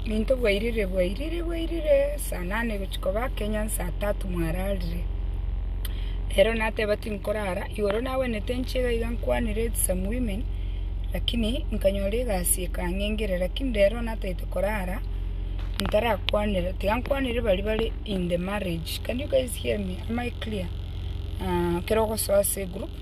Nintwe bwairire bwairire bwairire saa nane gochia koba kenya saa tatu mwararire. Rero nateba tinkorara igoro nagwenete nchie iga iga nkwanire with some women lakini nkanyora egasi ekang'engera lakini rero natagete korara ntarakwanera tiga nkwanere baria bare in the marriage can you guys hear me am I clear? ekero ogosoa ase egroup.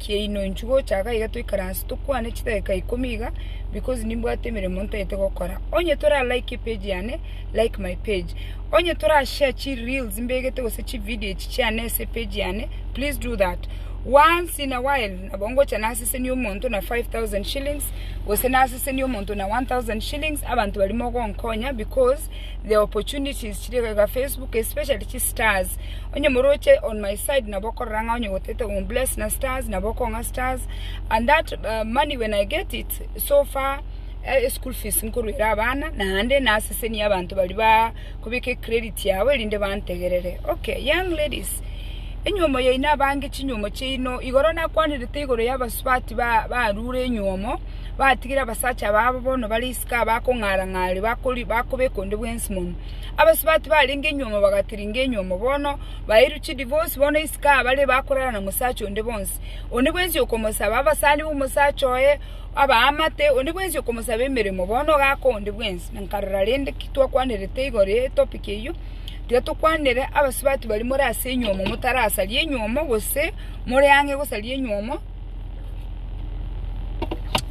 kiaino inchuo gochaka iga toikaranse tokwane chidageka ikomi iga because nimbwate emeremo ntagete gokora onye tora like epage yane like my page onye tora share chi reels mbegete gose chi video echi chiane ase epage yane please do that once in a while nabo ngocha nasesenie omonto na 5000 shillings gose nasesenie omonto na 1000 shillings abanto barimo gonkonya because the opportunities chiri goika Facebook especially chi stars onye moroche on my side nabo okorora ng'a onye gotete ombless na stars nabo okong'a stars and that uh, money when I get it so far eh, school fees nkoruera abana naende nasesenie abanto bari ba kubika credit yabo erinde bantegerere okay young ladies enyuomo yaino abange chinyuomo chiaino igoro nakwanirete igoro y'abasubati ba- barure enyuomo batigire abasacha babo bono bare isiko abakong'ara-ng'are bakobekwa onde bwensi mono. Abasubati barenge nyuomo bagatiringa enyuomo bono bairwe chidivosi bono isiko aba bare bakorara na mosacha onde bonsi. Onde bwensi okomosaba abasani b'omosacha oye abaamate, onde bwensi okomosaba emeremo bono ogaka onde bwensi. Na nkarora rende ki twakwanerete igoro ye topic eyio, tiga tokwanere abasubati baria more ase enyuomo motarasaria enyuomo gose more ang'e gosaria enyuomo,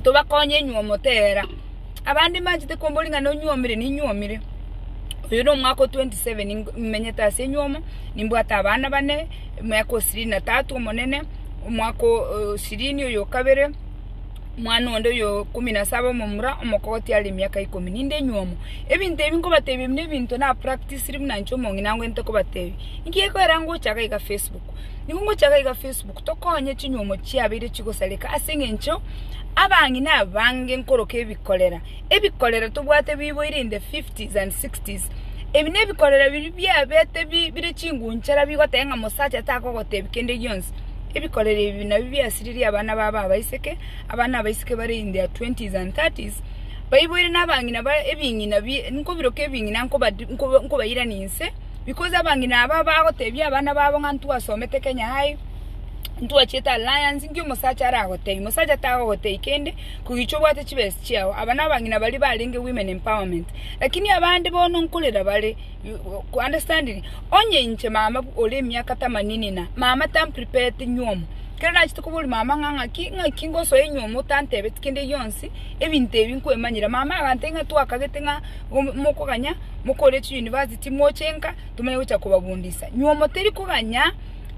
tobakonye inywe omotera. Abande mbanchete kombori ng'a nonyuomire, ninyuomire. Oyo nomwaka o twenty seven nimenyete ase enyuomo, nimbwate abana bane, omwaka o sirini na tatu omonene, omwaka o sirini oyo o kabere, omwana onde oyo o ikomi na saba omomura, omokogoti are emiaka ikomi. Ninde enyuomo. Ebinto ebi nkobatebia ebi nebinto napractisiri buna inche omong'ina ngwenerete kobatebia. Inki gekoira ngocha iga iga facebook? Nigo ngocha iga iga Facebook tokonye chinyuomo chiabeire chigosareka ase eng'encho abang'ina abange nkoroka ebikorera, ebikorera tobwate biboire in the fifties and sixties. Ebi ne ebikorera biria biabete bire chingunchara bigoteba ng'a omosacha takogotebi kende gionsi. Ebikorera ebi nabio biasiririe abana babo abaiseke, abana abaiseke bare in their twenties and thirties, baiboire na abang'ina ba ebing'ina bi nkobiroka ebing'ina nkoba nkobairania inse. Because abang'ina aba bagoteebia abana babo ng'a ntwasomete Kenya High, ntwachiete alliance, nki omosacha aragoteebie? Mosacha tagogoteebia kende, kogicha obwate chibesa chiao. Aba nabang'ina baria barenge women empowerment. Lakini abande bono nkorera bare, you understanding? Onye inche mama ore emiaka tamanini na, mama tamprepareti nywomo, kero nachete koboria mama ng'a ng'aki ng'aki ngosoe nywomo otantebeti kende gionsi, ebinto ebi nkwemanyera. Mama agantebi ng'a twakagete ng'a mokoganya mokore chiuniversity. Timochenka, tomanye gocha kobabundisa. Nywomo teri koganya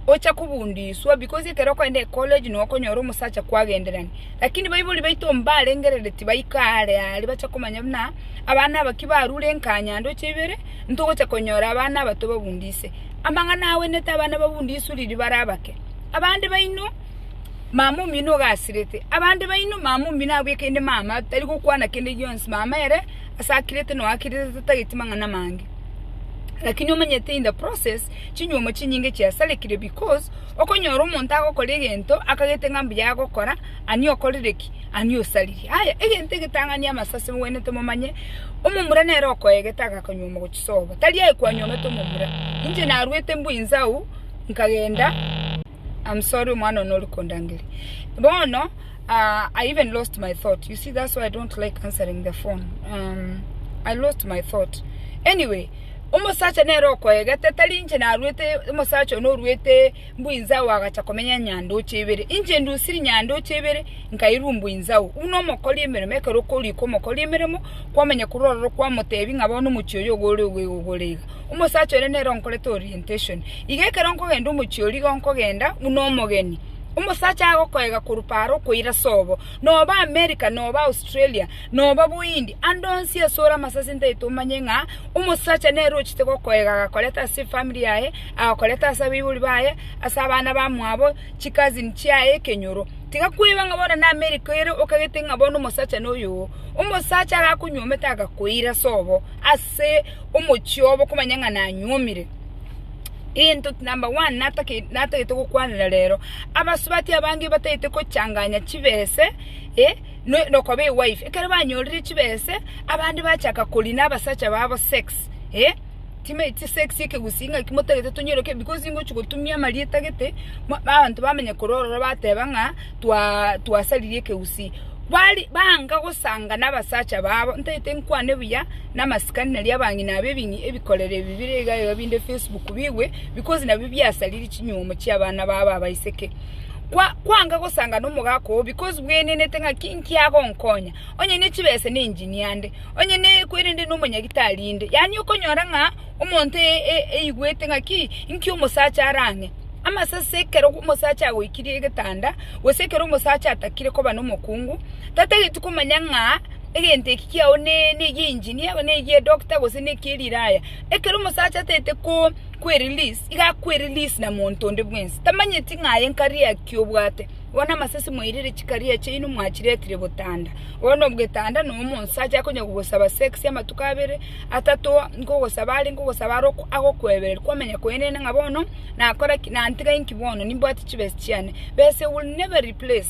ocha kobundiswa, because ekero okoenda ecollege nokonyora omosacha kwagenderani. Lakini baibori baito mbarengereri tibaika are are bacha komanya buna abana aba kibarure nkanya ndoche ibere, ntogocha konyora abana aba tobabundise. Amang'ana awenete abana babundiswe riri bare abake. Abande baino, mama omino ogasirete, abande baino mama omino abwekende mama tari gokwana kende gionsi, mama ere. ase akirete na oakirete tatageti mang'ana amange. Lakini omanyete in the process chinyuomo chinyinge chiasarekire because okonyora omonto agokora egento akagete ng'a mbuya agokora ani okorire ki? Ani osaririe. Aya egento egetang'ani amaso ase mowenerete momanye omomura nere okoegete agakonyuoma gochisoa obo tari aye kwanyuomete omomura. Inche naruete mbu inse agwo nkagenda. I'm sorry omwana one ore kondangeria bono uh, I even lost my thought you see that's why I don't like answering the phone um, I lost my thought anyway omosacha nere okoegete tari inche narwete omosacha one orwete mbuinzao agacha komenya nyandoche ibere inche ndusiri nyandoche ibere nkairwa mbuinzao uno omokori emeremo ekero okoriko omokori emeremo kwamanya korwa ororo kwamotebi ng'a bono omochie oyo ogore ogore iga Omosacha oria nere onkorete orientation. Iga ekero nkogenda omochie oria igo nkogenda buna omogeni. Omosacha agokoiga korwa paaro okoira sobo. Nobe America, nobe Australia, nobe Bohindi, ande onsi ase ore amasasi ntaete omanye ng'a omosacha nere ochete gokoiga agakoreta ase efamiri yaye, agakoreta ase abaibori baye, ase abana bamwabo, chicousin chiaye, ekenyoro. Tiga kweba ng'a bono na America ere okagete ng'a bono omosacha noyo oo. Omosacha arakonyuomete agakoira sobo ase. omochie obo komanya ng'a nanyuomire. Gento number one natake natagete gokwanera rero, abasubati abange batagete kochanganya chibese eh, no- nokoba ewife. Ekero banyorire chibese, abande bachaka koria na abasacha babo sex eh, time chisex ekegusii ng'aki motagete tonyore ki because ingochi gotumia amarieta gete, ma abanto bamanya korwa ororo bateba ng'a. twasaririe ekegusii, banga gosanga nabasacha babo, ntagete nkwane buya namasikani nario abang'ina aba ebikorero ebi bire iga iga binde Facebook bigwe because nabio biasaririe chinyuomo chiabana babo abaiseke, kwanga gosanga nomogaka oo because bwegenete ng'a ki nkiagonkonya, onye ne chibesa ne engineer nde, onye ne kwerende nomonyagitari inde, yaani okonyora ng'a. Omonto eiguete ng'aki inki omosacha are ang'e, amasase ekero omosacha agoikirie egetanda, gose ekero omosacha atakire koba nomokungu, tatageti komanya ng'a egento eki kiao ne egia engineer, ne egia edoctor gose ne ekia eriraya. Ekero omosacha atagete ko kwerelease, iga akwerelease na monto onde bwensi, tamanyeti ng'a aye nkaria ki obwate. Bono amasasi moirire chikaria chiaino mwachiretire botanda. Bono ogetanda na omonsacha akonya kogosaba sex amatuko abere, atato, nkogosaba are, nkogosaba are ok- agokwebereri kwamanya kwenene ng'a bono nakora ki, nantiga inki bono, nimbwate chibesa chiane. Besa will never replace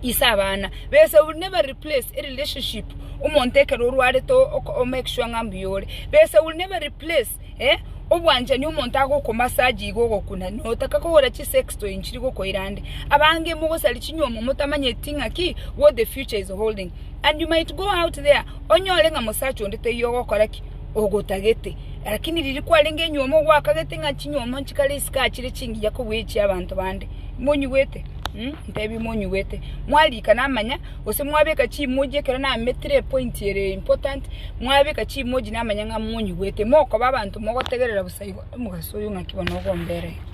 ise abana, besa will never replace a relationship, omonto ekero orwarete o- o- make sure ng'a mbuya ore. Besa will never replace. Eh, obwanchani omonto agokomasa aje iga ogokuna, notaka kogora chisextoy nchiri gokoira ande. Abange mogosari chinyomo motamanyeti ng'aki what the future is holding and you might go out there onyore ng'a mosacha onde taiyo ogokora ki? Ogotagete. Lakini riria kwarenge enyomo ogwakagete ng'a chinyomo nchikare isiko achire chingiya kobua echia abanto bande. Monyigwete? Mh, ntebi monyigwete. Mwarikana amanya. Gose mwabeka chimoji ekero nametire epoint ere important, mwabeka chimoji namanya ng'a monyigwete, mokoba abanto mogotegerera bosa igo, omogaso oyo ng'aki bono obombe ere iga.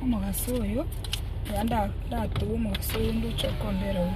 Omogaso oyo, iga nda- ndatobe omogaso oyo ndoche okombera oo.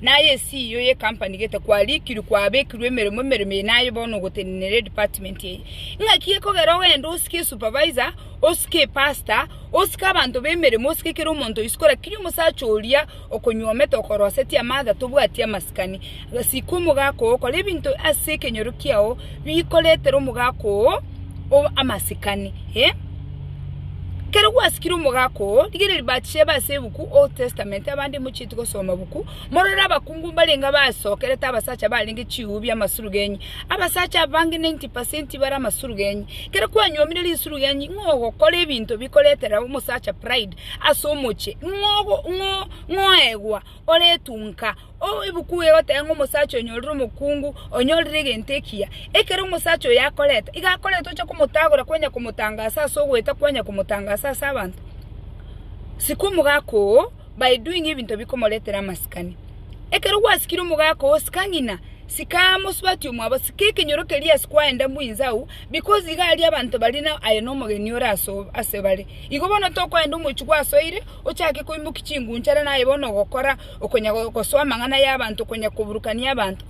Naye esiio ye company gete kwarikirwe kwabekirwe emeremo emeremo eye naye bono ogotenenera edepartment eye. Ng'aki ekogera ogende osike esupervisor, osike epastor, osike abanto b'emeremo, osike kera omonto o isiko lakini omosacha oria okonyuomete okorosetie amather tobwati amasikani. Sika omogaka oo okore ebinto ase ekenyoro kiao bikoretera omogaka oo. amasikani, ee. Ekero gwasikire omogaka oo, rigereria batisha ebe ase ebuku, Old Testament, abande mochieti gosoma buku, morore abakungu mbarenge abasokerete abasacha barenge chiubu bi'amasurugenyi, abasacha abange 90 percent bare amasurugenyi. Ekero kwanyuomire risurugenyi, ng'o ogokora ebinto bikoretera omosacha pride ase omochie? Ng'o ogo- ng'o- ng'o oegwa, oretunka. Ebuku eye egoteba ng'a omosacha onyorire omokungu onyorire egento ekiya. Ekero omosacha oyo akoreta, iga akoreta oche komotagora kwanya komotangasa ase ogoeta kwanya komotangasa ase abanto. Sika omogaka oo by doing ebinto bikomoretera amasikani. Ekero gwasikire omogaka oo sika ng'ina, sika mosubati omwabo, sika ekenyoro keria ase kwaenda mbwa inse agwo because iga aria abanto baria na aye na omogeni ore ase ase bare. Igo bono tokoenda omochie gwasoire ochake koimokia chingunchara na aye bono ogokora okonya gosoa amang'ana y'abanto, okonya koburukania abanto,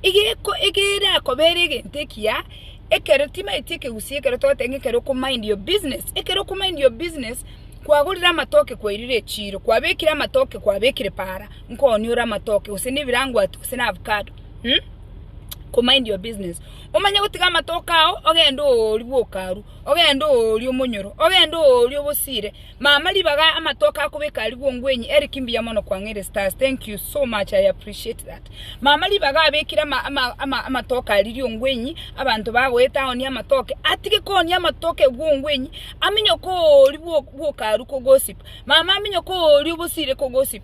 iga erakobera egento ekiya, ekero timaeti ekegusii ekero togoteba ng'a ekero oko mind your business, ekero oko mind your business, kwagorire amatoke kwairire echiro, kwabekire amatoke kwabekire paara, nko onia ore amatoke gose na ebirangwato gose na avocado um ko mind your business, omanye gotiga amatoke ao ogende ooria bwoka arwa, ogende ooria omonyoro, ogende ooria obosiire. Mama ribaga amatoke akobeka arigwo ngwenyi Eric mbuya mono kwang'eire stars thank you so much I appreciate that mama ribaga abekire ama, ama, ama, amatoke aririo ngwenyi abanto bagoeta aonie amatoke atige koonia amatoke gwo ngwenyi aminyoke oori bwo- bwokaru kogosip mama aminyoke oori obosire kogosip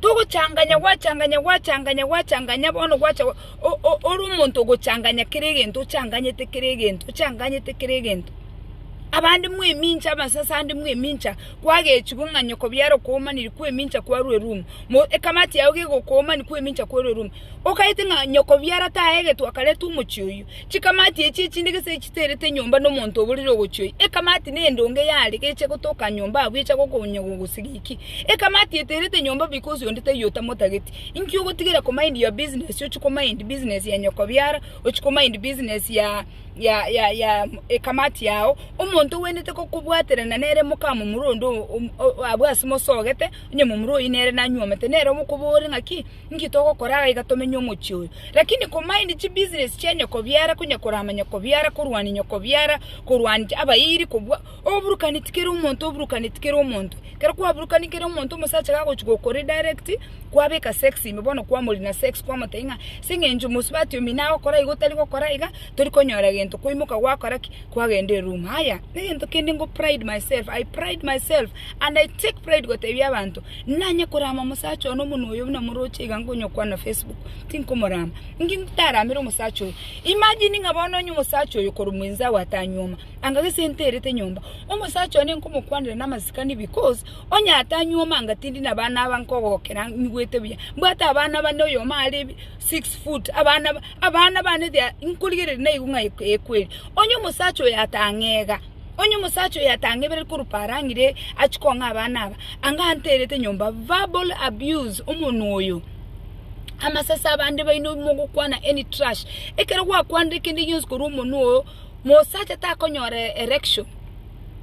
Togochanganya gwachanganya gwachanganya gwachanganya bono gwacha ore omonto ogochanganya kera egento ochanganyete kera egento ochanganyete kera egento. Abande mwemincha amasase ande mwemincha kwagechigwa ng'a nyoko biaro koomani koemincha kwarwa erumu ekamati yago gegokoomani koemincha kwarwa erumu. Okaete ng'a nyokobiara taegetwe akaretwa omochie oyio. Chikamati echi echinde gese chiterete nyomba nomonto oborire ogochia oyio. Ekamati nendonge yare geche gotoka nyomba abwo echa gokonya gogosiga inki? Ekamati eterete nyomba because onde taiyo otamotageti. Inki ogotigera komind your business ochie komind business ya nyokobiara ochie komind business ya ya ekamati yao. Omonto ogwenerete gokobwaterana nere moka momura onde abwo ase mosogete onye momura oyio nere nanyuomete nere omokobore ng'aki. Inki togokora aiga tomenye omochie oyo? Lakini komaindi chibusiness chia nyokobiara, konyakorama nyokobiara, korwania nyokobiara, korwania abairi, kobua oburukani tikere omonto oburukane tikere omonto. Ekero kwaburukani kere omonto omosacha gagochi gokoridirect, kwabeka sex ime bono kwamorina sex kwamotebia ng'a ase eng'encho mosubati omi nagokora iga otari gokora iga, tori konyora egento kwaimoka gwakora ki? Kwagenda eroom. Aya, negento kende ngo pride myself, I pride myself and I take pride gotebia abanto Nanye korama omosacha one omonu oyo buna moroche iga nkonyokwana Facebook, tinkomorama. Inki ntaramere omosacha oyo? Imagine ng'a bono onye omosacha oyo korwa mwenzi agwo atanyuoma, anga gese nterete nyomba, omosacha one nkomokwanera namasikani because onye atanyuoma anga tindi nabana aba nkogokera nyigwete buya. Mbwate abana bane oyomo are six foot, abana ba abana bane they are nkorigereria naigu ng'a ekweri. Onye omosacha oyo atang'ega. Onye omosacha oyo atang'ebereri korwa parang'ire achie kong'a abana aba, anga anterete nyomba, verbal abuse, omonwa oyo. Amase ase abande baino mogokwana any trash, ekero gwakwanire kende gionsi korwa omonwa oyo, mosacha takonyora erection.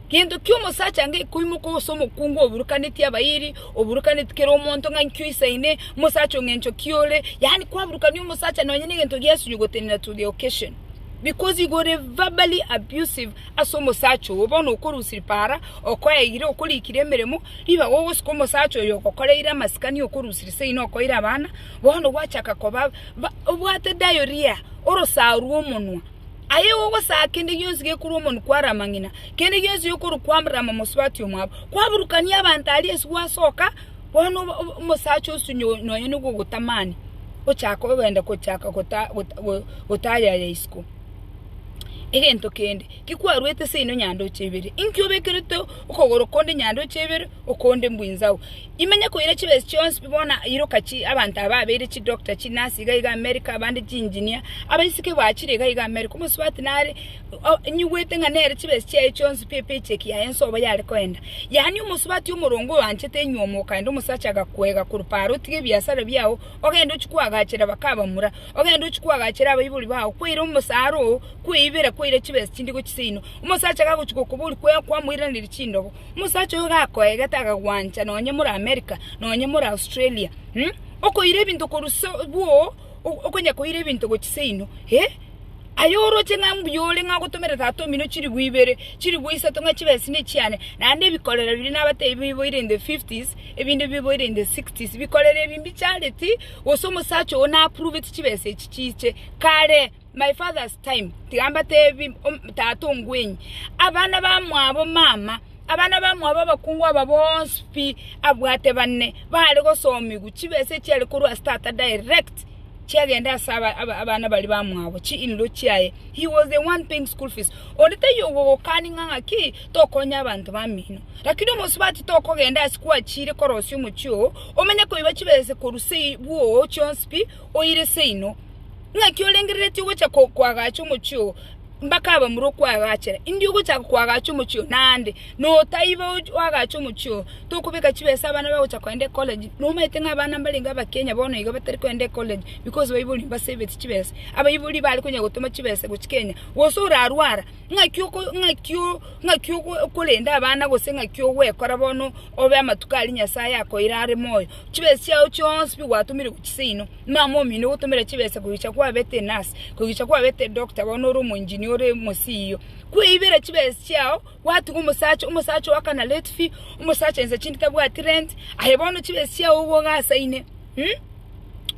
Gento kia omosacha anga ekoimoka ase omokungu oburukaneti abairi, oburukaneti kera omonto ng'a inki oisaine, omosacha ong'a enchoki ore, yaani kwaburukania omosacha nonye na egento giasu you got in at the occasion. Because you were verbally abusive ase omosacha ogo, bono okorusia para, okoeire, okorikire emeremo, ribaga ogosika omosacha oyo ogokoreire amasikani okorusiri seino okoira abana, bono gwachaka koba ba obwate diarrhoea, orosao rwa omonwa. Aye igo ogosaa kende gionsi gekorwa omonwe kwara amang'ina, kende gionsi gekorwa kwara amamosubati omwabo, kwaburukania abanto aria ase gwasoka. Bono omosacha osunywa nonya nogogotamani, ochaka ogenda gochaka gotaayaya isiko. Egento kende, ki kwaruete ase ino nyandoche ibere, inki obekerete okogoro konde nyandoche ibere, okonde mbwinzau? Imenya koira chibesa chionsi pi bono iroka chi abanto aba abeire chidoctor, chinasi iga iga America, abande chiengineer, abaiseke baachire iga iga America, omosubati nare. Nyigwete ng'a nere chibesi chiaye chionsi pi pi cheki yaye ense obo yare koenda. Yaani omosubati omoronge oyoanchete inywe omokaenda omosacha agakwega korwa paaro otige ebiasara biao ogende ochie koagachera bakabamura, ogende ochie koagachera abaibori bao kwaire omosaara oo kweibera kwaire chibesi chinde gochia seino. Omosacha gagochia gokoboria kwe kwamoiraneria chindobo, omosacha oyo gakoegete akagwancha nonye more America nonye more Australia, okoira ebinto korwa so bwoo. okonya koira ebinto gochia seino, eh, aye oroche ng'a mbuya ore ng'a ogotomera tata omino chilifu ibere, chilifu isato ng'a chibe ase nechiane, naende ebikorero biria nabatebirie biboire in the fifties, ebinde biboire in the sixties, bikorero ebi mbichareti, gose omosacha ogo na appruveti chibesa echi chiche kare. my father's time, tiga mbatebi tata ongwenyi, abana bamwabo mama, abana bamwabo abakungu aba bonsi pi abwate bane, bare gosomigwa, chibesa echiare korwa ase tata direct chiagenda ase abana baria bamwabo, chi in law chiaye, he was the one paying school fees, onde taiyo ogogokani ng'a ng'aki tokonye abanto bamino, lakini omosubati tokogenda ase kwachire korosia omochie oo, omenye koiba chibesa korwa seyi bwoo chionsi pi. oire seino, ng'aki orengereretie ogocha koagacha omochie oo, mpaka abamura okoagachere, indio ogochaka koagacha omochie oo, naende notaiba oagache omochie oo, tokobeka chibesa abana bagocha kogenda ecollege, nomaete ng'a abana mbarenge abakenya bono iga batari kogenda ecollege because baibori mbasaveti chibesa, abaibori bare konya gotoma chibesa gochia kenya, gose orarwara, ng'aki oko ng'aki o ng'aki okorenda abana gose ng'aki ogwekora bono obe amatuko aria nyasaye akoeire are moyo. Chibesa chiao chionsi pi gwatomire gochia seino, mama omino ogotomera chibesa kogecha kwabete enurse, kogecha kwabete edoctor bono ore omoengineer ore mo CEO. Kweibera chibesa chiao gwatiga omosacha, omosacha oaka na late fee, omosacha inse chindi tabwati rent, aye bono chibesa chiao igo ogasaine, mh?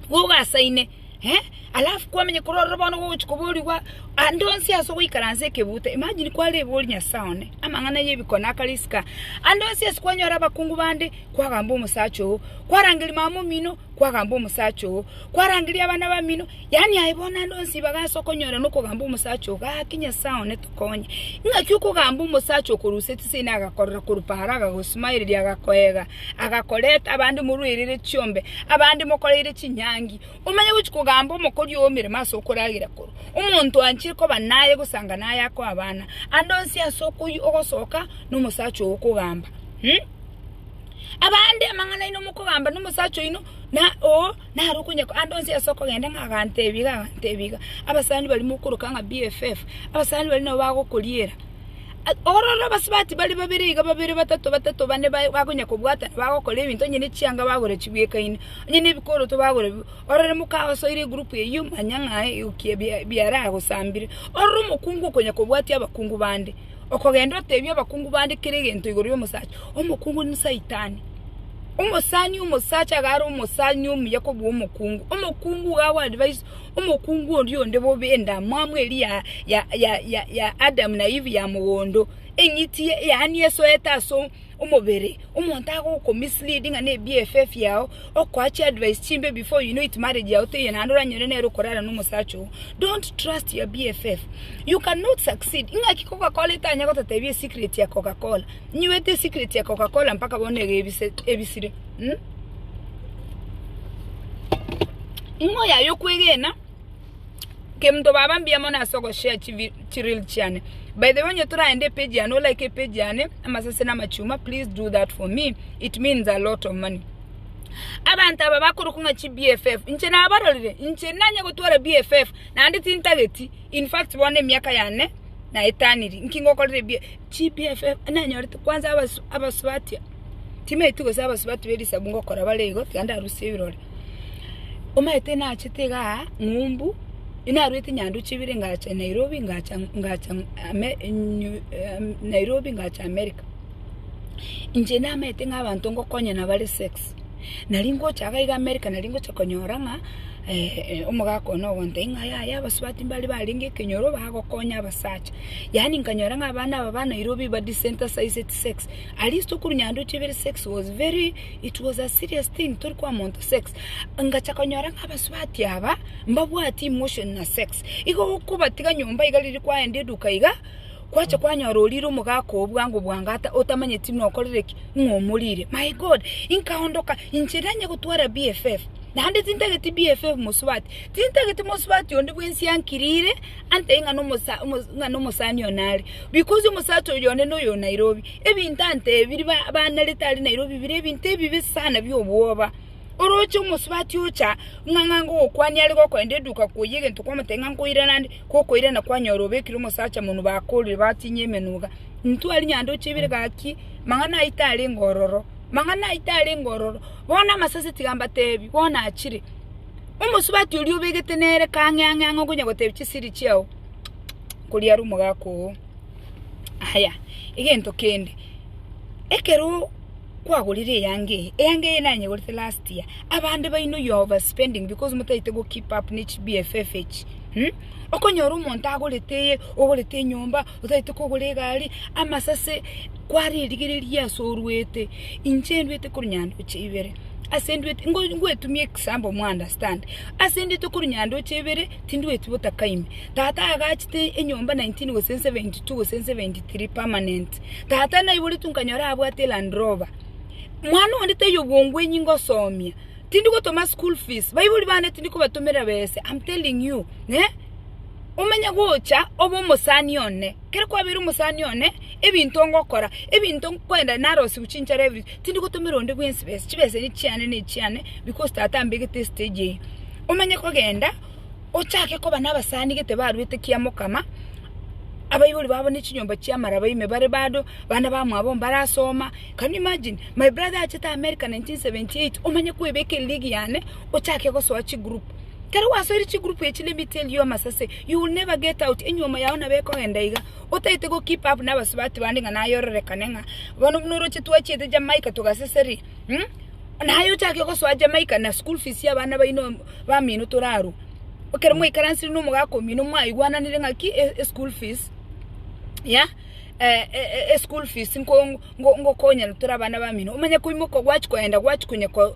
Igo ogasaine. eh, alafu kwamenya korwa ororo bono gogochi koborigwa ande onsi ase ogoikaransa ekebuta, imagine kwarebori Nyasae one, amang'ana ya ebikone akare isiko, ande onsi ase kwanyora abakungu bande, kwagamba omosacha oo, kwarangeria mama omino, kwagamba omosacha oo, kwarangeria abana bamino, yaani aye bono ande onsi ibaga ase okonyorana okogamba omosacha oo, gaki Nyasae one tokonye, ing'aki okogamba omosacha okorusia chisemi nagakorora korwa paaro agago smileria agakoeega. agakoreta abande morwaerere chiombe, abande mokoreire chinyangi, omanye gochia kogamba omokori oo emeremo ase okoragera korwa omonto anchire koba naye gose anga naye akoe abana, ande onsi ase okoyia ogosoka nomosacha oo okogamba mh. Abande amang'ana aino mokogamba nomosacha oino na oo nare okonye ande onsi ase okogenda ng'a agantebi iga agantebi iga, abasani baria mokoroka ng'a BFF, abasani baria nabo bagokoriera. Ororo abasubati bare babere iga, babere, batato, batato, bane, bakonya kobwatana, bagokora ebinto, onye nechianga bagora chibwekaine, onye nebikoroto bagora bibwe. Ororo mokagosoire egurupu eyio, manya ng'a egokia biaragosambire. Ororo omokungu okonya kobwatia abakungu bande, okogenda otebia abakungu bande kera egento igoro y'omosacha. Omokungu n'Saitani. Omosani omosacha iga are omosani omuya kobua omokungu. Omokungu iga agoa advice omokungu oria onde bobe endamwamu eria ya Adamu na Eve ya mogondo, eng'iti yaani esoete ase omobere. Omonto agokomislead ng'a ne BFF yao, okoa chiadvice chimbe before you know it marriage yao teiyo naende oranyore nere okorara na omosacha ogo. Don't trust your BFF. You cannot succeed. Ing'aki Coca-Cola etanya gototebi esecret ya Coca-Cola? Inye oete esecret ya Coca-Cola mpaka bono iga ebisire? Ing'o yaye yokwegena? Kemto baba mbuya mono ase ogoshare chi reel chiane. By the way onye toragende epage yane o like epage yane amasase na amachuma please do that for me it means a lot of money. Abanto aba bakorokwa ng'a chi BFF inche nabarorire inche nanye gotwara BFF naende tintageti in fact bono emiaka yane naetaniri nki ngokorire BFF. GPFM nanyorete kwanza abasu abasubati timaeti gose abasubati be risabu ngokora bare igo tiga ndarusie ebirore omanyete nachete iga aa ng'umbu narwete nyanduche ibere ngacha Nairobi ngacha ngacha ame nyu ame Nairobi ngacha America inche namanyete ng'a abanto ngokonya nabare sex nari ngocha iga iga America nari ngocha konyora ng'a omogaka one ogontebia ng'a yaya abasubati mbare barenge ekenyoro bagokonya abasacha. yaani nkanyora ng'a abana aba ba Nairobi ba desensitized to sex, at least okorwa nyanduche ibere sex was very, it was a serious thing tori kwa monto sex, ngacha konyora ng'a abasubati aba mbabwati emotion na sex, igo gokobatiga nyomba iga riria kwaenda eduka iga, kwacha kwanyora orire omogaka oo bwango bwangata otamanyeti buna okorire ki? ng'a omorire, my God, nkaondoka inche nanye gotwara BFF, naende tintageti BFF mosubati, tintageti mosubati onde bwensi ankirire. Ante ng'a nomosa, omo, ng'a nomosani one are, because omosacha oyo one noyo o Nairobi. Ebinto ante ebi biri ba- banerete are Nairobi bire ebinto ebibe sana bia obwoba. Oroche omosubati ocha ng'a ng'a ngogokwania are gokoenda eduka koyia egento kwamotebia ng'a nkoirana ande, gokoirana kwanyora obekire omosacha monwe bakorire batinyia emenwe iga. Intwe aria nyando chebire gaki, mang'ana ayio tarenge ororo, mang'ana ayio tarenge ororo. Bono amasase tiga mbatebie, bono achire. Omosubati oria obegete nere kang'e ang'e ang'e okonya gotebia chisiri chiao kikikiki koria are omogaka oo. Aya, egento kende, ekero kwagorire eyanga eye, eyanga eye nanyegorete last year, abande baino you are over spending because motaete go keep up ne chi BFF echi, mh, okonyora omonto agorete eye, ogorete enyomba. Otaete kogora egari, amasase kware erigereria ase oruete, inche nduete korwa nyandoche ibere, ase nduete ngoetumia example mo understand, ase nduete korwa nyandoche ibere, tindueti botaka ime, tata agachete enyomba nineteen gose seventy two gose seventy three permanent, tata naiboretwe nkanyora abwate land rover, mwana onde taiyo bwongo enyi ngosomia, tindi gotoma school fees, baibori bane tindi kobatomera bese, am telling you eh. Omenye gocha obe omosani one. Ekero kwabeire omosani one, ebinto ngokora, ebinto nkwenda narosiwu chinchara ibere, tindi gotomera onde bwensi besa, chibesa echi chiane ne chiane because tata ambegete estage eyio. Omenye kogenda ochake koba na abasani gete baruete kia mokama, abaibori babo ne chinyomba chia amaraba ime bare bado, bana ba mwabo mbarasoma, can you imagine? My brother achete America 1978, omanye kwebeka erig yane, ochake gosoa chigroup. Kera gwasoire chigroup echi ne mitienyi y'amasase, you will never get out, enyuomo yao nabo ekogenda iga. Otaete go keep up n'abasubati bande ng'a naye ororekane ng'a bono buna oroche twachiete Jamaica togaseseria, umm naye ochake gosoa Jamaica na school fees y'abana baino bamino torarwa. Ekero mwaikaransire n'omogaka omino mwaigwananire ng'aki e school fees ya e school fees nko ngokonyana tore abana bamino, omanye koimoka gwachi kogenda gwachi konya ko.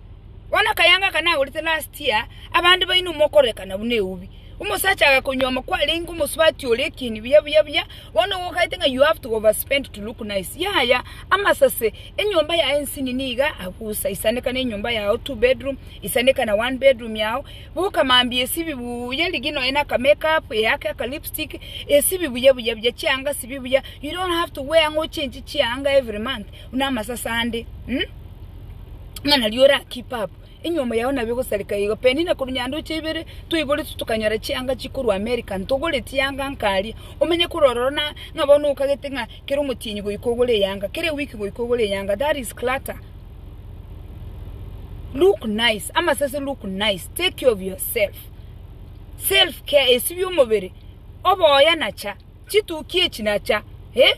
Bono akayaanga aka nagorete last year, abande baino mokorekana buna eubi. Omosacha agakonywoma kwarenge omosubati ore ekieni buya buya buya, bono ogokagete ng'a you have to overspend to look nice. Yaya, amasase, enyomba yaye nsini niga abusa, isanekana enyomba yao two bedroom, isanekana one bedroom yao, buka mambia esibi buya erigina oye na ka make up, eyake aka lipstick, esibi buya buya buya, chianga sibi buya, you don't have to wear ng'a ochenchi chianga every month. buna amasase ande, ng'a nario ore ake pabu, enyomo yao nabo egosareka igo. Penina korwa Nyandoche ibere toiboretwe tokanyora chianga chikorwa Amerika, ntogoretie yanga nkaria, omenye korwa ororo na ng'a bono okagete ng'a kera omotienyi goika ogore eyanga, kera ewiki goika ogore eyanga, that is clutter. Look nice, amasase look nice, take care of yourself, self care, esibia omobere, oboyana cha. chituki echi nacha, e,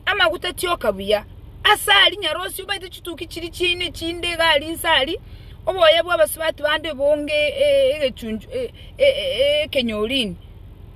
amaguta tioka buya. Ase ari nyarosi obaete chituki chiri chiaino echinde iga ari inse ari, oboya bwa abasubati bande bonge e- egechunchu e- e- e- ekenyorini.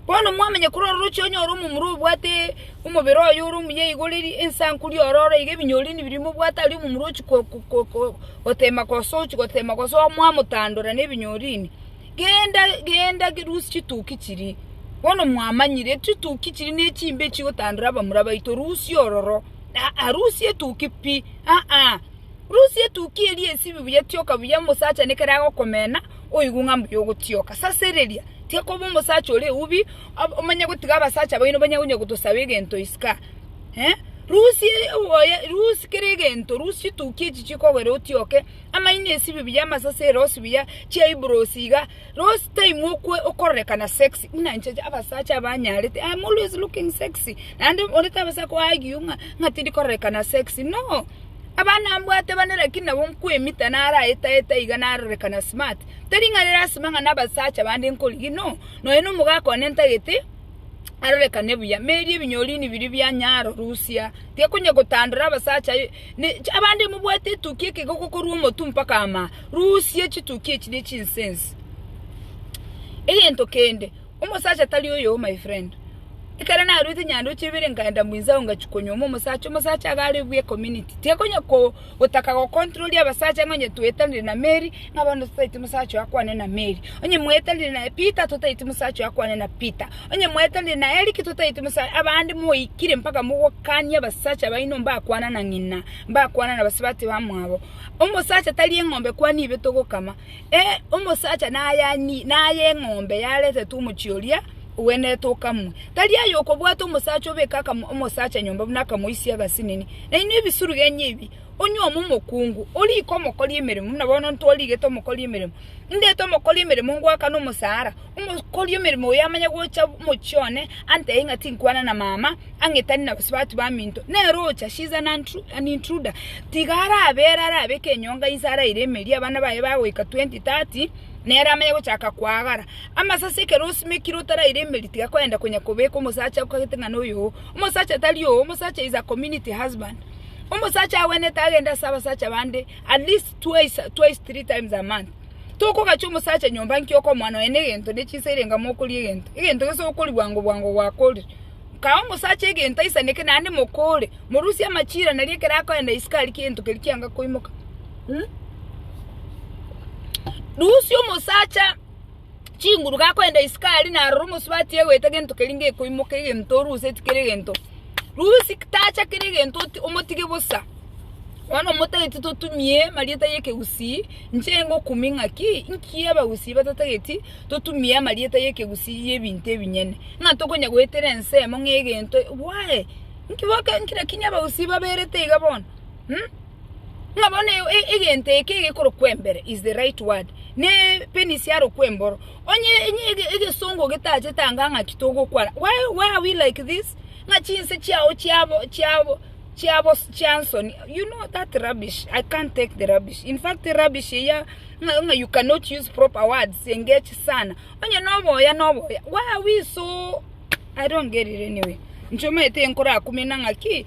Bono mwamanya korwa ororochi onyore omomura obwate omobere oye ore omuya igoro eri ensankuri ororo iga ebinyorini biria mobwate aria omomura ochi ko- ko- ko- gotema kosochi gotema kosoa mwamotandora na ebinyorini. Genda, genda, rusia chituki chiria. Bono mwamanyire chituki chiria nechimbe echigotandora abamura baito, rusia ororo. Aa, rusia etuki pi, aa, rusia etuki eria esibi buya, tioka buya, omosacha nekero agokomena, oigwe ng'a mbuya ogotioka. Sasereria, tiga koba omosacha ore eubi, omanye gotiga abasacha baino banye konya gotosaba egento isiko aa, eh, rusia oboyo, rusia kera egento, rusia chituki echi chikogera otioke, amaino esibibi y'amasase erosi buya chiaiburosi iga rosi time okwe okororekana sexy buna inche abasacha abanyarete i am always looking sexy naende orete abase ako argue ng'a ng'a tindi kororekana sexy no abana mbwate bane lakini nabo nkoemita naro aetaeta iga narorekana smart teri ng'a lasima ng'a na abasacha bande nkorigia no nonya na omogaka one ntagete arorekane buya meri ebinyorini biria bianyaro rusia tiga konya gotandora abasacha. Abande mobwate etukia ekegogo korwa omotwe mpaka amaa, rusia chitukia echi ne chinsense. Egento kende, omosacha tari oyoo my friend. Ekero narwete nyandoche ibere nkaenda mwinsa ago ngachia konyuoma omosacha, omosacha iga are buya ecommunity. Tiakonya ko gotaka go control abasacha ng'a onye toetanire na Mary, ng'a bono totaeti omosacha oyo akwane na Mary. Onye moetanire na Peter, totaeti omosacha oyo akwane na Peter. Onye mwaetanire na Eric totaeti mosare abande moikire mpaka mogokanie abasacha baino mbakwana na ng'ina mbakwana na basubati bamwabo omosacha tari eng'ombe kwani ibe togokama ee omosacha nayani naye eng'ombe yaretetwe omochie oria ogwenerete okamwe tari aye okobwata omosacha obeke akamo omosacha nyomba buna akamoisia agasinini nainwe ebisuru genyu ebi onyuoma omokungu oriko omokori emeremo buna bono ntwarigete omokori emeremo ndete omokori emeremo ngwakane omosara Omokori omeremo oyo amanya gocha omochie one, antebie ng'a tinkwana na mama, ang'etani na gose batu baminto, nere ocha, she is an intruder, tiga arabe ere arabeke enyonga inse araire emeria, abana baye bagoika twenty, thirty, nere amanye gochaka koagara. Amasasi ekero osimekire otaraire emeria tiga kogenda konya kobeka omosacha okagete ng'a noyo oo, omosacha tari oo, omosacha is a community husband, omosacha agwenerete agende ase abasacha bande at least. twice, twice three times a month. Tokogachia omosacha nyomba nki okomoa nonya ne egento ne chinsa ere enga mokoria egento. Egento gese okori bwango bwango gwakorire. Kae omosacha egento aisaneke naende mokore, morusie amachira nari ekero akoenda isiko aria kegento keria kianga koimoka. Rusia omosacha chinguru gakoenda isiko aria narora omosubati egoeta gento keria gekoimoka egento oruse tikere gento rusi tacha kere gento omotige bosa bono omotagete totumie marieta ye kegusii inche ngokumia ng'aki inki abagusii batatageti totumie amarieta ye kegusii ye ebinto ebinyene ng'a tokonya goetera ensemo ng'a egento bwaye inki boke inki rakini abagusii baberete iga bono. Ng'a bono egento eke egekorokwa embere is the right word, ne penis yarokwa emboro. Onye egesongo getachete anga ng'aki togokwana, why why are we like this? Ng'a chinse chiao chiabo chiabo chiabo chiansoni, you know that rubbish, I can't take the rubbish. In fact rubbish eya ng'a ng'a you cannot use proper words engage sana. Onye na oboya na oboya, why are we so, I don't get it anyway. Inche omanyete enkorakumia na ng'aki.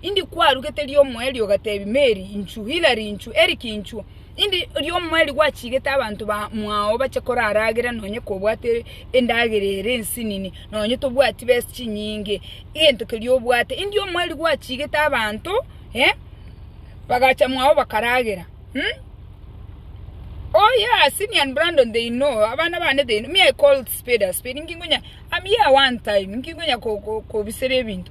Indi kwarugete ri'omoe ri'ogatebia Meri, inchuo, Hilari, inchuo, Eriki, inchuo, indi ri'omoe rigwachigete abanto ba mwao bache koraragera nonye kobwate endagera ere ensinini, nonye tobwati besa chinyinge, egento keria obwate, indi omoe rigwachigete abanto bagacha mwao bakaragera. Oh yeah, Simi and Brandon they know, abana bane they know, me I call spade a spade, nkinkonya, am here one time, nkinkonya kobisera ebinto.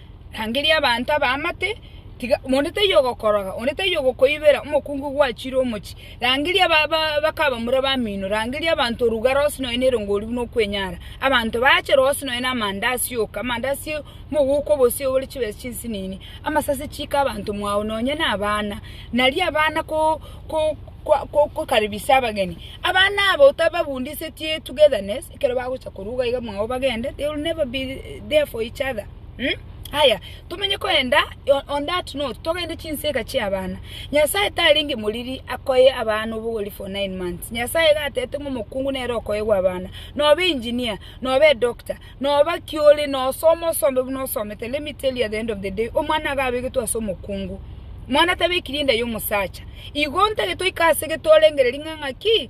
Rangeria abanto abaamate, tiga onde taiyo ogokoroga, onde taiyo ogokoibera omokungu gwachire omochie. Rangeria aba bakabamura bamino, rangeria abanto orugare onsi nonya na erongo riu buna okwenyara. Abanto baachere onsi nonya na amandasi yoka, amandasi mogoka obosie ore chibesa chinsinini, amasasi chiika abanto mwao nonya na abana. Nario abana ko-ko-ko-kokaribisia abageni, abana abo otababundisetie togetherness, ekero bagocha koruga iga mwao bagende, they will never be there for each other um Aya tomenye koenda on that note togende chinsega chia abana, Nyasaye tarenge moriri akoe abana obogori for nine months, Nyasaye iga atebete ng'a omokungu nere okoegwa abana, nobe engineer, nobe edoctor, noba ki ore, nosome osome buna osomete, let me tell you at the end of the day, omwana iga abegetwe ase omokungu, mwana tabekirie enda ya omosacha, igo ntagete oike ase gete orengereria ng'a ng'aki,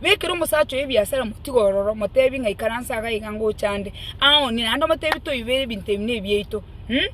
Na ekero omosacha oye ebiasara motiga ororo, motebi ng'a ikaransa iga iga ngocha ande, aoonie, naende omotebi toibere ebinto ebi nebiaito um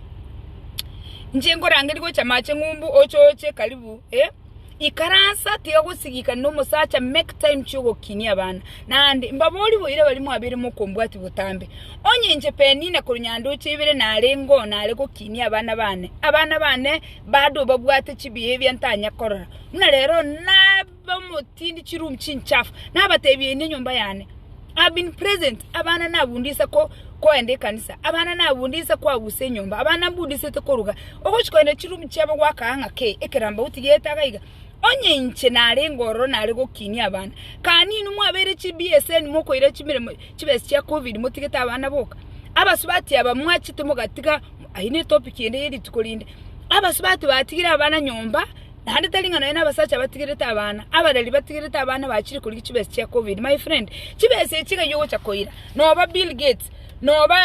Inche nkorangeria gocha amache ng'umbu oche oche karibu eh, ikaransa tiga gosigikana nomosacha make time chiogokinia abana, naende mbaborie boiire baria mwabere mokombwati botambe, onye inche Penina korwa nyandoche ibere narenge oo nare gokinia abana bane, abana bane bado babwate chibehavior ntanya korora, buna rero nab. Bamotindi chirum chinchafu, nabateebie inwe enyomba yane, I have been present, abana nabundise ko koenda ekanisa, abana nabundise koagusa enyomba, abana nabundisete koruga, ogochi koenda chirum chiabo gwakaa ng'a kei, ekeramba otigete iga iga. Onye inche narenge ororo nare gokinia abana, kani inwe mwabeire chi BSN mokoira chimeremo chibesi chia covid motigete abana boka? Abasubati aba mwachete mogatiga, ayio netopic ende yerituko rinde, abasubati batigire abana nyomba Naende tari ng'a nonya nabasacha abatigerete abana, abareri batigerete abana bachire korigia chibesa chia covid. My friend, chibesa echi iga ogocha koira, noba Bill Gates, noba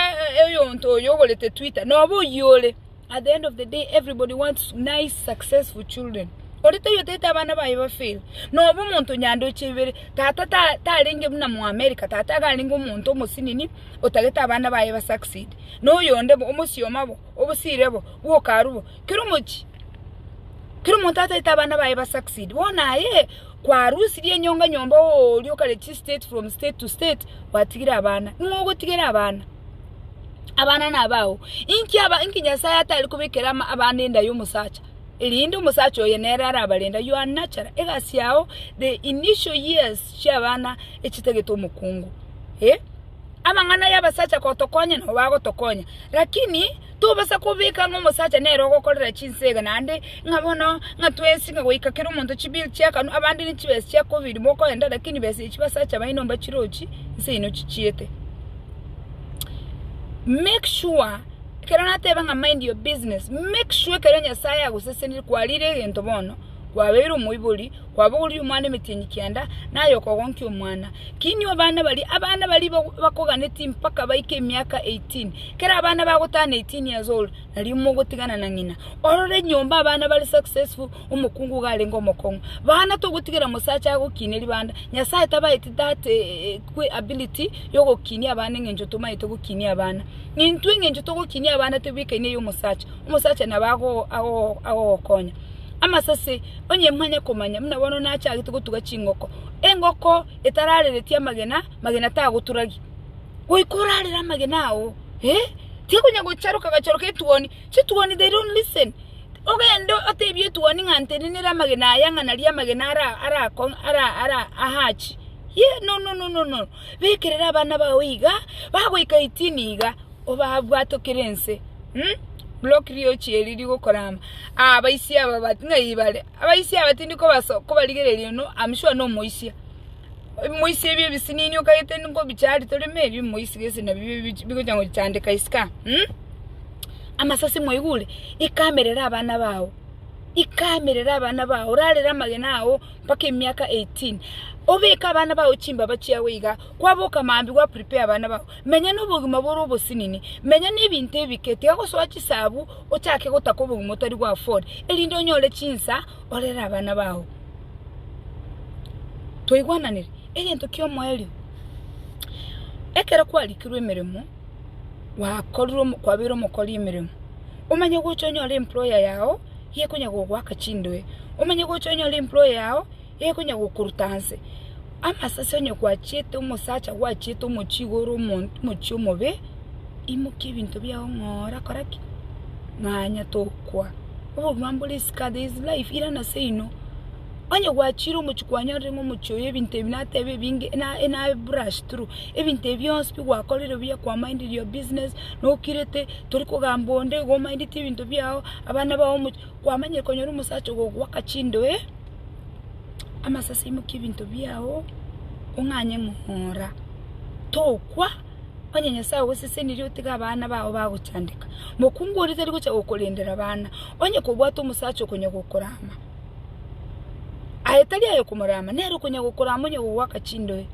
oyonto oyo ogorete Twitter, noba oyio ore, at the end of the day everybody wants nice successful children. Ore taiyo otaete abana baye ba fail, noba omonto onya ndoche ibere, tata ta tarenge buna mo America, tata iga arenge omonto omosinini otagete abana baye ba succeed, noyonde bo omosioma bo. Obosiire obo bw'okaru bo, kera omochie, kera omonto ataete abana baye ba succeed. Bono aye kwarusirie enyonga nyomba oria okaretie state from state to state gwatigire abana. Ning'o ogotigera abana? Abana nabao. Inki aba inki Nyasaye atari kobekera ama abana enda y'omosacha? Erinde omosacha oye nere arabarenda. You are natural. Egasi yao the initial years chi'abana echitagete omokungu. Eh? Amang'ana y'abasacha gotokonya nobo agotokonya, lakini tobasa kobeka ng'a omosacha nere ogokorera chinsega naende ng'a bono ng'a twensi ng'a goika kera omonto chibill chi'akanwa, abande nechibesa chia covid mokoenda lakini besa echio basacha baino mbachirochi nseino chichiete. Make sure ekero nateba ng'a mind your business, make sure ekero Nyasaye agosesenire kwarire egento bono, kwabeire omoibori, kwabogoria omwana emetienyi kenda, na aye okogonkia omwana. Kinia obana baria, abana baria ba- bakoganeti mpaka baike emiaka 18, kera abana bagotana 18 years old, nario mogotigana na ng'ina. Orore nyomba abana bare successful, omokungu iga arenge omokong'u. Bana togotigera mosacha agokinia ribanda, Nyasaye tabaeti that eh, kwe ability ya ogokinia abana eng'encho tomaete gokinia abana. Intwe eng'encho togokinia abana tebwekaine eyomosacha, omosacha nabo ago- ago- agogokonya. Amasase, onye mwanya komanya, buna bono nachagete gotuga chingoko. Engoko etararereti amagena, magena tagoturagi. Goika orarere amagena ao, eh, tiakonya gocharoka gachoroka etuoni. Chituoni they don't listen. Ogende otebie etuoni ng'a ntenenere amagena aya ng'a naria amagena ara arako ara ara ahachi. Ye, no no no no no. Bekerera abana bao iga, bagoika eighteen iga. obabwatokire ense um, block riochi eri rigokora ama ah abaisi aba but ng'ai bare abaisi aba tindi kobaso kobarigereria no I'm sure no omoisia omoisi ebio ebisinini okagete nkobicha ari toreme ebio omoisi gese nabio bich bigocha gochandeka isika um amasasi mwaigure ikamerera abana bao ikamerera abana bao orarere amagena ao mpaka emiaka eighteen obeke abana bao chimbaba chiago iga kwaboka maambia gwa prepare abana bao. Menya nobogima bore obosinini, menya nebinto ebike, tiga gosoa chisabu, ochake gotaka obogima otari gwa afford, erinde onyore chinsa orere abana bao. Twaigwananire? Egento kiomoerio, ekero kwarikirwe emeremo, gwakorire kwabeire omokori emeremo, omanye gocha onyore employer yao, ekonyagogoaka chindoe, omanye gocha onyore employer yao. egonya gokoruta anse amasase onye gwachiete omosacha gwachiete omochie igoro omonto omochie omobe imokia ebinto biao ng'ora kora ki? ng'anya tokwa obogima mbore isiko there is life irana seino onye gwachire omochie kwanyorire ng'a omochie oyo ebinto ebi nateba ebinge na na brush through ebinto ebi bionsi bi gwakorire buya kwa minded your business nokirete tori kogamba onde igo o mindeti ebinto biao abana bao omochie. kwamenyire konyora omosacha ogogwaka chindoe amasasi aimoke ebinto biao ong'anye ng'ora tokwa onye Nyasaye ogosesenirie otige abana bao bagochandeka. Mokungu oria tari gocha gokorendera abana onye kobwate omosacha okonya gokorama. Aye tari aye okomorama nere okonya gokorama onye kogwaka chindoe.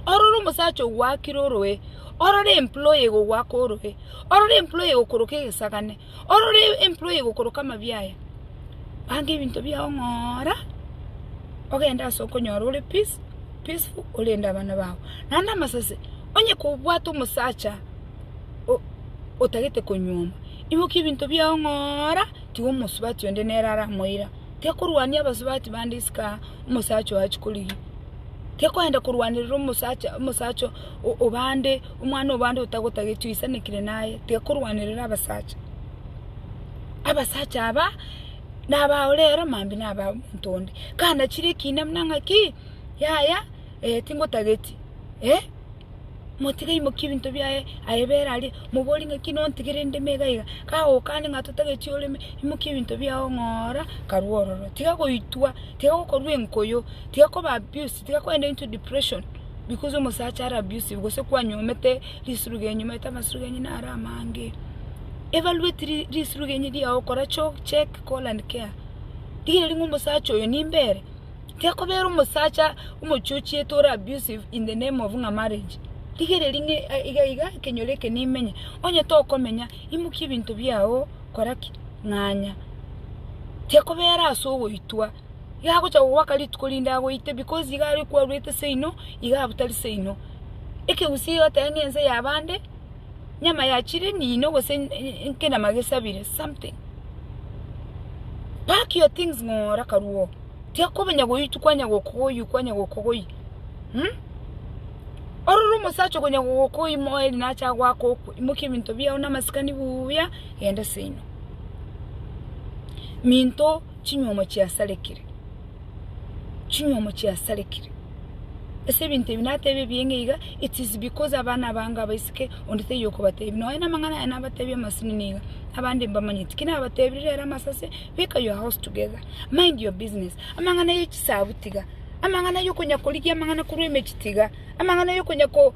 Ororo omosacha ogwakire oroe, ororo employee egogwaka oroe, ororo employee egokoroka egesagane. Orore empuro eye egokoroka amabia aya, banga ebinto biao ng'ora ogende ase okonyora ore peace, peaceful orende abana bao. Naende amasase, onye kobwate omosacha o- otagete konyuoma, imokia ebinto biao ng'ora, tiga omosubati onde nere aramoira, tekorwania abasubati bande isiko aa, omosacha oyo achia korigia, tekoenda korwanerera omosacha omosacha o- obande. Omwana-o-bande otagotagechwa oisanekire naye, tiga korwanerera abasacha. Abasacha aba nabaore ero mambia naba omonto onde. Kanachire ekiina buna ng'aki, yaya, eh, tingotageti, eh, motiga aimokie ebinto biaye aye bere aria, moborie ng'aki nontigere endemo iga iga, kagokania ng'a totageti oreme, imokia ebinto biao ng'ora karwa ororo. Tiga goitwa, tiga gokorwa enkoyo, tiga koba abusive. Tiga kwenda into depression because omosacha are abusive gose kwanyomete risurugenyo omanyete amasurugenyo naro amange. Evaluate risurugenyo riao kora check call and care rigereria ng'a omosacha oyo nimbe ere. Tiga kobera omosacha omochochiete ore abusive in the name of ng'a marriage. Rigereria ng'a iga iga ekenyoro eke nimenye. Onye tokomenya imokia ebinto biao kora ki? Ng'anya. Tiga kobera ase ogoitwa. Iga agocha gogoaka rituko rinde agoite, because iga aria okwaruete seino, iga abutari seino. Ekegusii egoteba ng'a ense yabande, nyama ya chire niino gose nkenyama gesabire, something. Pack your things ng'oora akarua oo. Tiga komenya goitwa kwanya gokogoyia kwanya gokogoyia um. Ororo omosacha okonya gokogoyia moeri nache agoaka okwe, imokia ebinto biao na amasikani buuya, genda seino. Minto. Chinyuomo chiasarekire, chinyuomo chiasarekire. Ase ebinto ebi nateebia ebiya ng'a iga, It is because abana abange abaiseke onde taiyo okobateebia. Nonya namang'ana aya nabateebia amasinini iga, abande mbamanyeti. Ki nabateebire rero amasase? Beka your house together. Mind your business. Amang'ana ye chisabu tiga. Amang'ana yokonya korigia amang'ana korwa emechi tiga. Amang'ana yokonya ko.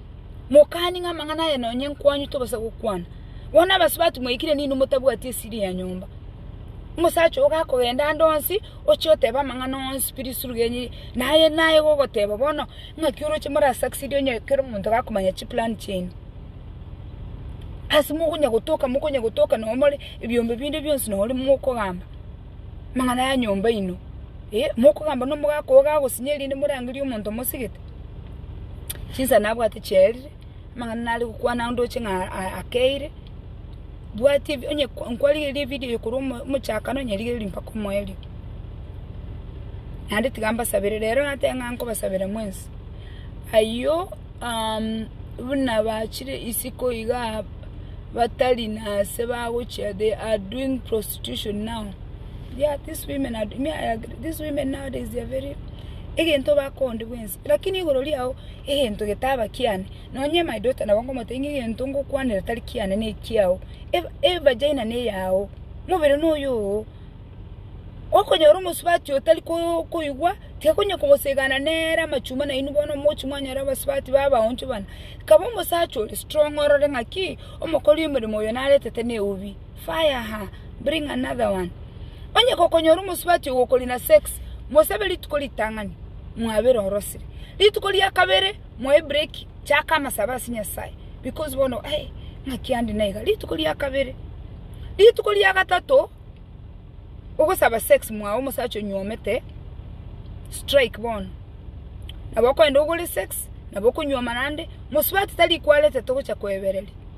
Mokani ng'a amang'ana aya nonye nkwanyute obasa gokwana. Bono abaso batimwaikire ninwe motabwati esiri ya nyomba. Omosacha ogo gakogenda ande onsi, oche oteba amang'ana onsi bire isuru genye, naye naye gogoteba bono, ng'aki oroche more a succeed onye kero omonto gakomanya chiplan chiaino. Ase mokonya gotoka mokonya gotoka nonye more ebiombe binde bionsi nonye mokogamba. amang'ana ya nyomba yaino, mokogamba nomogaka ogo gagosinyire erinde morangerie omonto omosigete? Chinsa nabwate chiaerire, amang'ana nare gokwana ndoche ng'a akeire, bwati ebi onye nkwarigereria ebidio eye korwa omo omochakano onye rigereiri mpaka omoerio. Naende tiga mbasabere, rero nateba ng'a nkobasabera mwensi. Ayio buna bachire isiko igaa batari nase bagochia they are doing prosti. prostitution now yeah these women are me I agree these women nowadays they are very egento bakonde bwensi lakini igoro riao egento getaba kiane nonye my daughter nabo ngomotebia ng'a egento ngokwanera tari kiane ne ekiao Eva- evagina ne eyao mobere no oyoo okonyora omosubati otari ko- koigwa tiakonya kogosigana nere amachuma nainwe bono mochi mwanyora abasubati ba abaonchu bana kaba omosacha ore strong orore ng'aki omokori omoremo oyo naretete ne eubi. fire her, bring another one. Onye gokonyora omosubati ogo okori na sex, mosabe rituko ritang'ani, mwabere orosire. Rituko ria kabere moe break, chaka amasabe ase Nyasae, because bono eh, ng'aki ande naiga, rituko ria kabere. Rituko ria gatato, ogosaba sex mwago omosacha onyuomete, strike bono. Nabo okoenda ogore sex, nabo okonyuoma naende, mosubati tari kwarete togocha koebereria.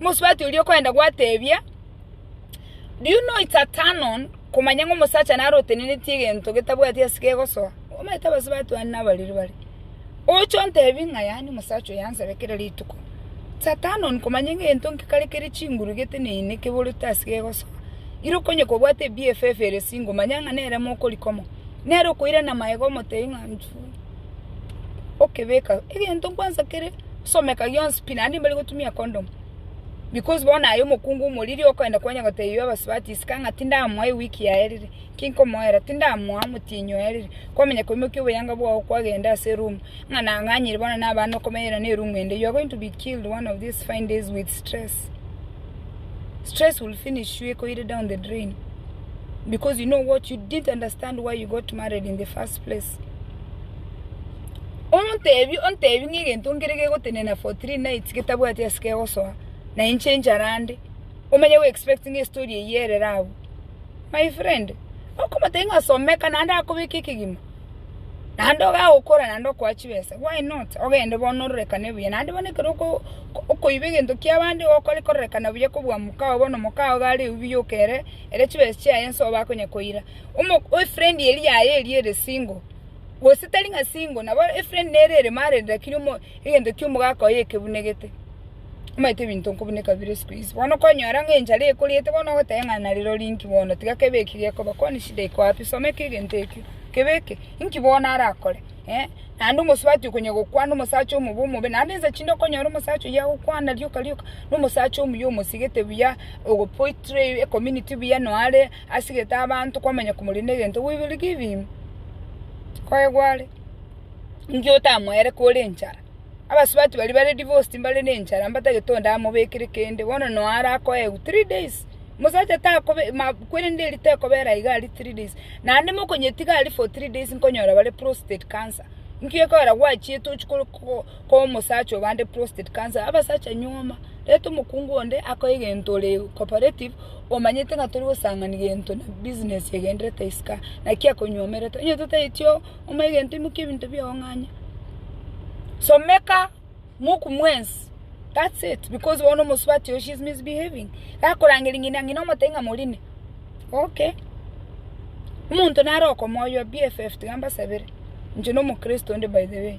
Omosubati oria okoenda gwateebia, Do you know it's a turn on komanya ng'a omosacha nare otenenetie egento getabwati ase kegosoa? Omanyete abasubati bande nabariri bare. Oche ontebi ng'a yaani omosacha oyo ansabe kera rituko. It's a turn on komanya ng'a egento nki kare kere chinguru geteneine keborete ase kegosoa. Ira okonye kobwate eBFF ere singo, manya ng'a nere mokorikomo. Nere okoirana magega omotebi ng'a nchwe. okebeka egento kwansa kere someka gionsi pi naende mbari gotumia condom because bono aye omokungu omoriri okoenda kwanya gotebia abasubati isiko ng'a tindamoa ewiki yaerire, ki nkomoera? Tindamoa omotienyi oerire, kwamanya koimokia oboyanga bwao kwagenda ase eroom ng'a nang'anyire bono na abana okomenyera na eroom ende, you are going to be killed one of these fine days with stress. Stress will finish you ekoire down the drain because you know what you didn't understand why you got married in the first. Please. Omontebi ontebi ng'a egento nkere gegotenena for three nights getabwati ase kegosoa, na inche enchara ande, omanye go expect ng'a estory eyio erere abwo. My friend, okomotebia ng'a someka naende akobeke ekegima, naende iga agokora naende okoa chibesa, why not? Ogende bono ororekane buya, naende bono ekero oko okoiba egento kia abande igo okore kororekana buya kobua mokao bono mokao iga are ebiyoka ere, ere chibesa chiaye nsoa bakonya koira. Efrendi eria yaye eria ere single, gose tari ng'a single, nabo efrendi nere ere married lakini egento ki'omogaka oye ekebunegete. Omanyete ebinto nkobuneka bire isiko ici, bono konyora ng'a enchara ekoriete bono ogoteba ng'a narirori inki bono tiga kebe eki gekoba, kwani shida iko wapi? Soma eke egento ekio, kebe eke, inki bono arakore? eh, naende omosubati okonya gokwana omosacha omobe omobe, naende ensa chinde okonyora omosacha oyio agokwana rioka rioka, na omosacha omuya omosigete buya, ogo portray ecommunity buya noo are. Asigete abanto kwamanya komoria negento gweberwe gebiimo, koegwa are. Inki otamoeire kore enchara? Abasubati baria bare divorced mbare nenchara mbatagete onde amobekere kende bono no are akoegwa three days. Mosacha takobe ma kwerende eria tekobera iga aria three days. Naende mokonyetiga aria for three days nkonyora bare prostrate cancer. Inki okoera gwachiete ochia kore ko. ko'omosacha obande prostate cancer abasacha nyuoma reta omokungu onde akoe gento ore cooperative omanyete ng'a tori gosang'ani gento na business egenderete isiko aa naki akonyuomerete onye totaeti oo omoe gento imokia ebinto biago ng'anya someka moku mwensi that's it because bono omosubati oyo she's misbehaving gakorangeria ng'ina ng'ina omotebie ng'a morine okay omonto nare okomoywa bff tiga mbasabere inche nomokristo onde by the way.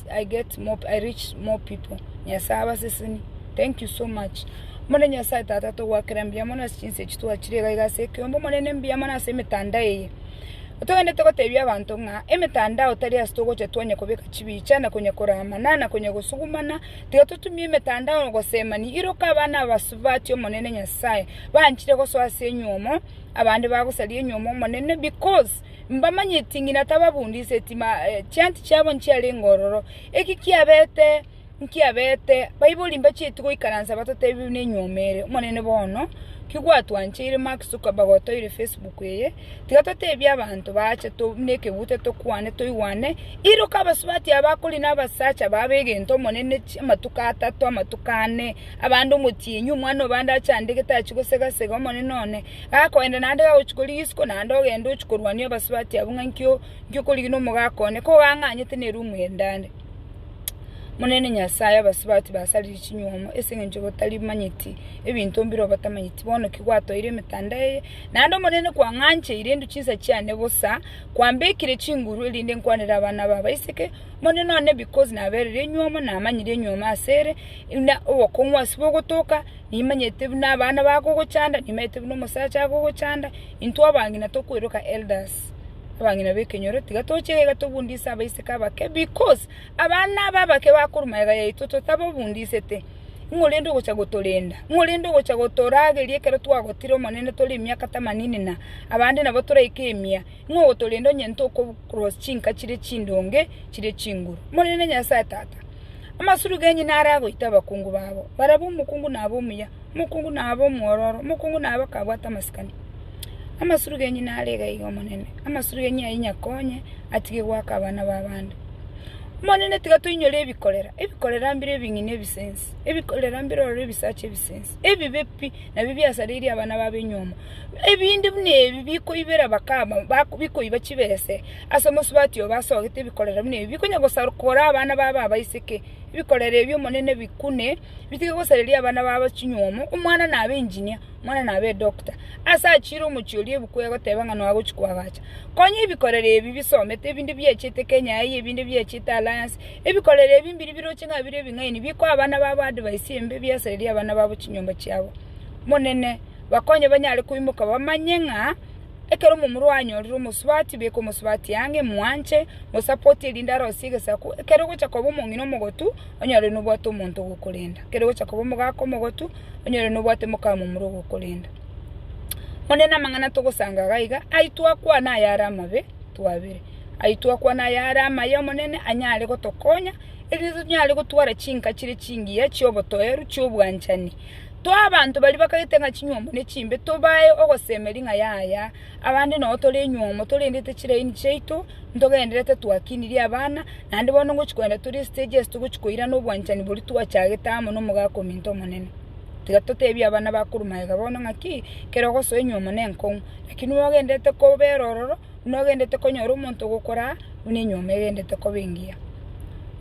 I get more, I reach more people. Nyasae abaseseni. Thank you so much. Omone Nyasae Tata togwakera mbuya mono ase chinsa echi twachire iga iga ase ekeombe omonene mbuya mono ase emetandao eye. Otogende gotebia abanto ng'a emetandao tari ase togocha twanya kobeka chibicha na konya koramana na konya gosugumana tiga totumie emetandao gosemani iroka abana abasubati omonene Nyasae banchire gosoa ase enyuomo abande bagosaria enyuomo omonene because Mbamanyeti ng'ina tababundiseti, chianti chiabo nchiarenge ororo. Eki kiabete nkiabete, baibori mbacheti goikaransa batotebiwe nenyuoma ere. Omonene bono, kigwatwancheire Mark Zuckerberg otoire Facebook eye, tiga totebie abanto baache buna ekeguta tokwane toigwane, iroka abasubati aba akori na abasacha babo egento Omonene amatuko atato, amatuko ane, abande omotienyi, omwana obande achandegete achie gosegasega Omonene one. Gakoenda naende gagochia korigia isiko naende ogende ochie korwania abasubati abwo ng'a inkio inkio korigia na omogaaka one, kogang'anyete na erumu ende ande. Omonene Nyasae, abasubati basarire chinywomo ase eng'encho bataribamanyeti ebinto mbire obatamanyeti, bono ki gwatoire emetanda eye? Naende Omonene kwang'ancheire indu chinsa chiane bosa, kwambekire chinguru erinde nkwanere abana ba abaiseke, Omonene one because nabereire enywomo, namanyire enywomo asere, na obokong'u ase bogotoka, Nimanyete buna abana bakogochanda, nimanyete buna omosacha akogochanda, intwe abang'ina tokweroka elders, abang'ina b'ekenyoro, tiga toche egega tobundise abaiseke abake, because abana aba abake bakorwa magega yaito totababundisete, ng'o rende ogocha gotorenda? ng'o rende ogocha gotorageria ekero twagotire Omonene tore emiaka tamanini na abande nabo toraike emia, ng'o ogotorenda onye intwe oko cross chinka chire chindonge chire chinguru? Omonene Nyasae Tata, Amasuru genyu naro agoita abakungu babo, barabwo omokungu nabe omuya, omokungu nabe omwororo, omokungu nabe akabwate amasikani. Amasuru genyu naro igaiga Omonene, amasuru genyu ayio inyakonye atige goaka abana b'abande. Omonene tiga toinyore ebikorera, ebikorera mbire ebing'ina ebisense, ebikorera mbire ororo ebisacha ebisense, ebibe pi, nabio biasareirie abana b'abenywomo, ebinde buna ebi bikoibera bakama, bak- bikoiba chibese. Ase omosubati obo asogete ebikorero buna ebi bikonya gosakora abana babo abaiseke. Ebikorero ebi Omonene bikune, bitige gosareria abana babo chinyuomo, omwana nabe engineer, omwana nabe edoctor. Ase achiire omochie oria ebuku egoteba ng'a noagochia koagacha. Konya ebikorero ebi bisomete, ebinde biachete Kenya eye, ebinde biachete Alliance. Ebikorero ebi mbiria biroche ng'a bire ebing'aini, bikoa abana babo advice embe, biasarerie abana babo chinyomba chiabo. Omonene, bakonye banyare koimoka bamanye ng'a. Ekero omomura oye anyorire omosubati, beka omosubati ang'e, mwanche, mosapoti erinde arosie egesaku. Ekero ogocha koba omong'ina omogotu, onyore nobwate omonto ogokorenda. Ekero ogocha koba omogaka omogotu, onyore nobwate mokamomura ogokorenda. Bono nere namang'ana togosanga iga iga, ai twakwana ayare amabe, twabere. Ai twakwana ayare amaya Omonene anyare gotokonya, erinde tonyare gotwara chinka chire chingiya chi'obotoeru chi'obwanchani. Toe abanto baria bakagete ng'a chinywomo nechimbe, tobae ogosemeria ng'a yaya, abande nao tore enywomo, torendete chiraini chiaito, ntogendererete twakinirie abana, naende bono ngochia kogenda tore estage ase togochia koirana obwanchani boria twachagete amo na omogaka ominto omonene. Tiga totebie abana bakorwa magega bono ng'aki, ekero ogosoa enywomo nenkong'u, lakini nogendererete kobera ororo. buna ogendete konyora omonto ogokora, buna enyuoma egendete koba engiya.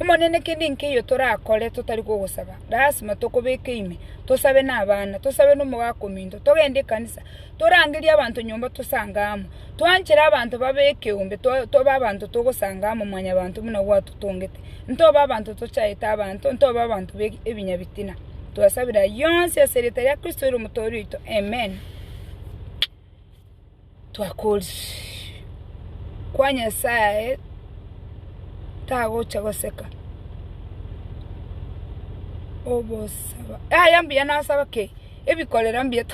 Omonene kende nkeiyo torakore totari kogosaba, lasima tokobeke ime, tosabe nabana, tosabe nomogaka ominto, togende ekanisa, torangerie abanto nyomba tosange amo, twanchere abanto babe ekeombe to- tobe abanto togosanga amo mwanyabanto buna gwatotongete, ntobe abanto tochaete abanto, ntobe abanto be ebinya bitina. Twasabire ayio yonsi ase erieta ria Kristo ere Omotooria oito, Amen. twakoorisirie, kwa Nyasaye tagocha goseka obosaba yaya mbuya nasaba kei, ebikorera mbuya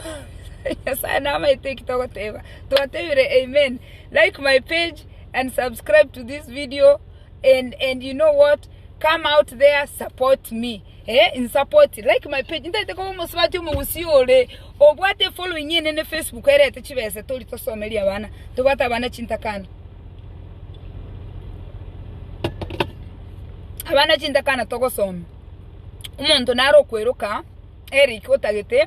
Nyasaye namaete eki togoteba, twatebire amen, like my page and subscribe to this video and you know what come out there support me. Eh in support like my page ntaete koba omosubati omogusii ore obwate efollowing enene facebook erete chibese tori tosomeria abana tobwate abana chintakana abana chintakana togosomia omonto naro okweroka Eric otagete